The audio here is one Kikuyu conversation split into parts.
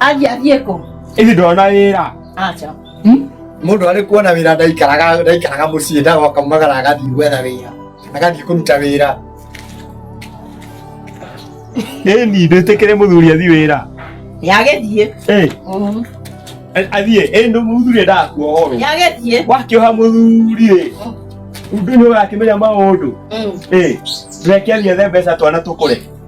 Aje athiĩ kũ? Ĩthi ndona wĩra. Acha. Hmm? Mũndũ arĩ kuona wĩra ndaikaraga ndaikaraga mũciĩ ndagoka magara agathiĩ gwetha wĩra. Agathiĩ kũruta wĩra. Ĩni ndĩtĩkĩre mũthuri athiĩ wĩra. Nĩagĩthiĩ. Ĩĩ. Mhm. Athiĩ, ĩĩ ndũ mũthuri ndakuohorwo. Nĩagĩthiĩ. Wakĩoha mũthuri ĩ. Ũndũ nĩ ũgakĩmenya maũndũ. Ĩĩ. Reke athiĩ ethe mbeca twana tũkũre.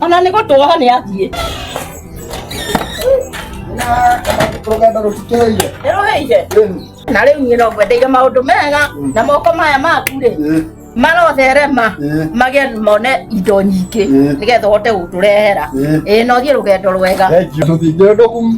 Ona nĩ gũtũoha nĩ athiĩ. Rũgendo rũtukĩrĩire. Nĩrũhĩire. Na rĩu niĩ no ngwendeire maũndũ mega na moko maya maku rĩ marotherema magä mone indo nyingä nä getha å hote gå tå rehera ä no thiä rå gendo rwega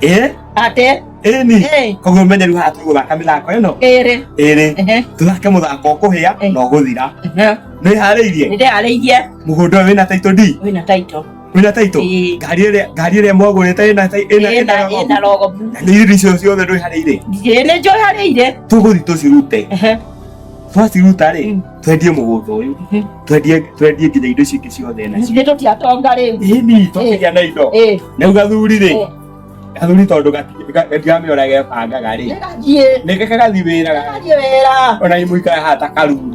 eh ate eni eh koguo menye riu haha tũgũthaka mĩthako ĩno ere ĩrĩ ehe tũthake mũthako ũkũhĩa Eh. na ũgũthira ehe nĩ harĩirie nĩ ndeharĩirie mũgũnda ũyũ wĩna taito d wĩna taito wĩna taito Ĩĩ. ngari ĩrĩa ngari ĩrĩa mwagũrĩte ĩna tai- ĩna ĩna ĩna rogo. ĩna rogo blue. Na nĩ irio icio ciothe ndwĩharĩire Ndiĩ nĩ njũharĩire tũgũthi tũcirute ehe twaciruta rĩ Mm. twendie mũgũnda ũyũ twendie twendie nginya indo icio ingĩ ciothe na Ithuĩ tũtiatonga rĩu. ini tũkĩgĩa na indo Eh, rĩu gathuri rĩ eh, gathuri tondũ gatiramĩona gebangaga rĩ nĩgathiĩ. nĩ gaka gathi wĩra Nĩgathiĩ wĩra. ona imũikara hata karuru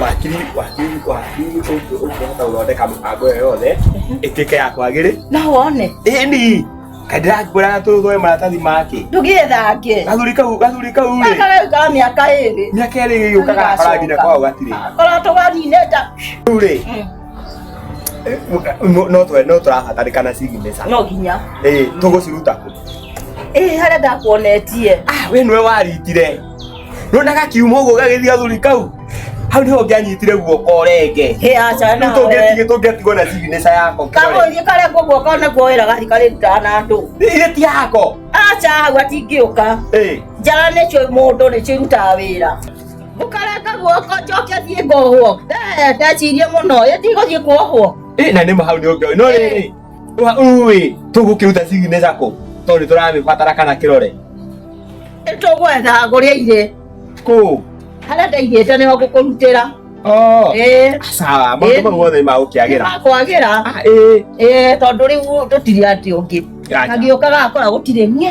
wakiri wakiri wakiri ũngĩhota gũthondeka mĩbango ĩyo yothe ĩtuĩke ya kwagĩrĩ no wone ĩni kandĩrakuoraga tũthũe maratathi make ndũgĩthange gathuri kau gathuri kau rĩ gakagaukaga mĩaka ĩrĩ mĩaka ĩrĩ gĩgĩũkaga akora nginya kwao gatirĩ korwo tũganinĩte rĩu rĩ no twe no tũrabatarĩkana signature no nginya ĩĩ tũgũciruta kũ ĩĩ harĩa ndakuonetie ah we nĩwe waritire nona gakiuma ũguo gagĩthiĩ athuri kau hau nĩho ngĩanyitire guoko renge Hĩ aca na rĩu tũngĩtigĩ tũngĩtigwo na signature yako Kamũthĩ karĩa kuo guoko naguo wĩra gathi karĩrutaga na andũ. irĩ ti yako Aca hau atingĩũka. Eh, Njara nĩcio mũndũ nĩcio irutaga wĩra. Ũkarenga guoko njoke thiĩ ngohwo. Eh, ndecirie mũno. Ĩtigũthiĩ kuohwo. eh, na nĩ mahau nĩ ũngĩ no rĩrĩ Ui, tũgũkĩruta signature kũ? Tondũ nĩ tũramĩbatara kana kĩrore. Tũgwetha kũrĩa irĩ. Kũ? Harĩa ndaigĩte nĩho ngũkũrutĩra. Oh. Eh. Sawa, maũndũ mau mothe nĩ magũkĩagĩra. Magũkĩagĩra. Ah, eh. Eh, tondũ rĩu tũtirĩ atĩ ũngĩ. Kangĩũkaga akora gũtirĩ niĩ.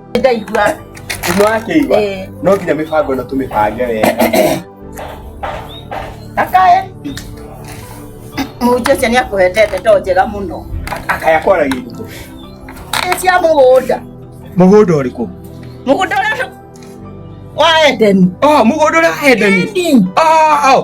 ndaigua nĩ wakĩigua Eh. no nginya mĩbango ĩno tũmĩbange wega akae mũnjĩcia nĩ akũhete ndeto njega mũno akaya kwaragia ibuku Nĩ cia mũgũnda mũgũnda ũrĩkũ mũgũnda ũrĩa wa edeni Ah, mũgũnda ũrĩa wa Edeni. Ĩndĩ. Ah, ah.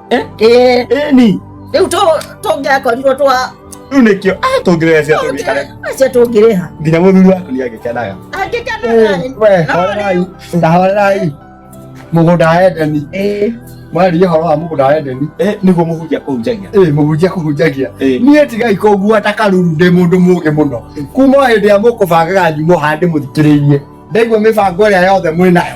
eh eh eh ni rĩu tũ- tũngĩakorirwo twa rĩu nĩkĩo ah, tũngĩrĩra cia tũngĩkare acia tũngĩrĩha nginya mũthuri waku nĩ agĩkenaga angĩkanaga we horerai na horerai mũgũnda wa edeni mwaria ũhoro wa mũgũnda wa edeni eh nĩguo mũhunjia kũhunjagia ĩ mũhunjia kũhunjagia Eh. niĩ tigai kũngua ta karuru ndĩ mũndũ mũgĩ mũno kuma o hĩndĩ ĩrĩa mũkũbangaga nyumo hande mũthikĩrĩirie ndaigua mĩbango ĩrĩa yothe mwĩnayo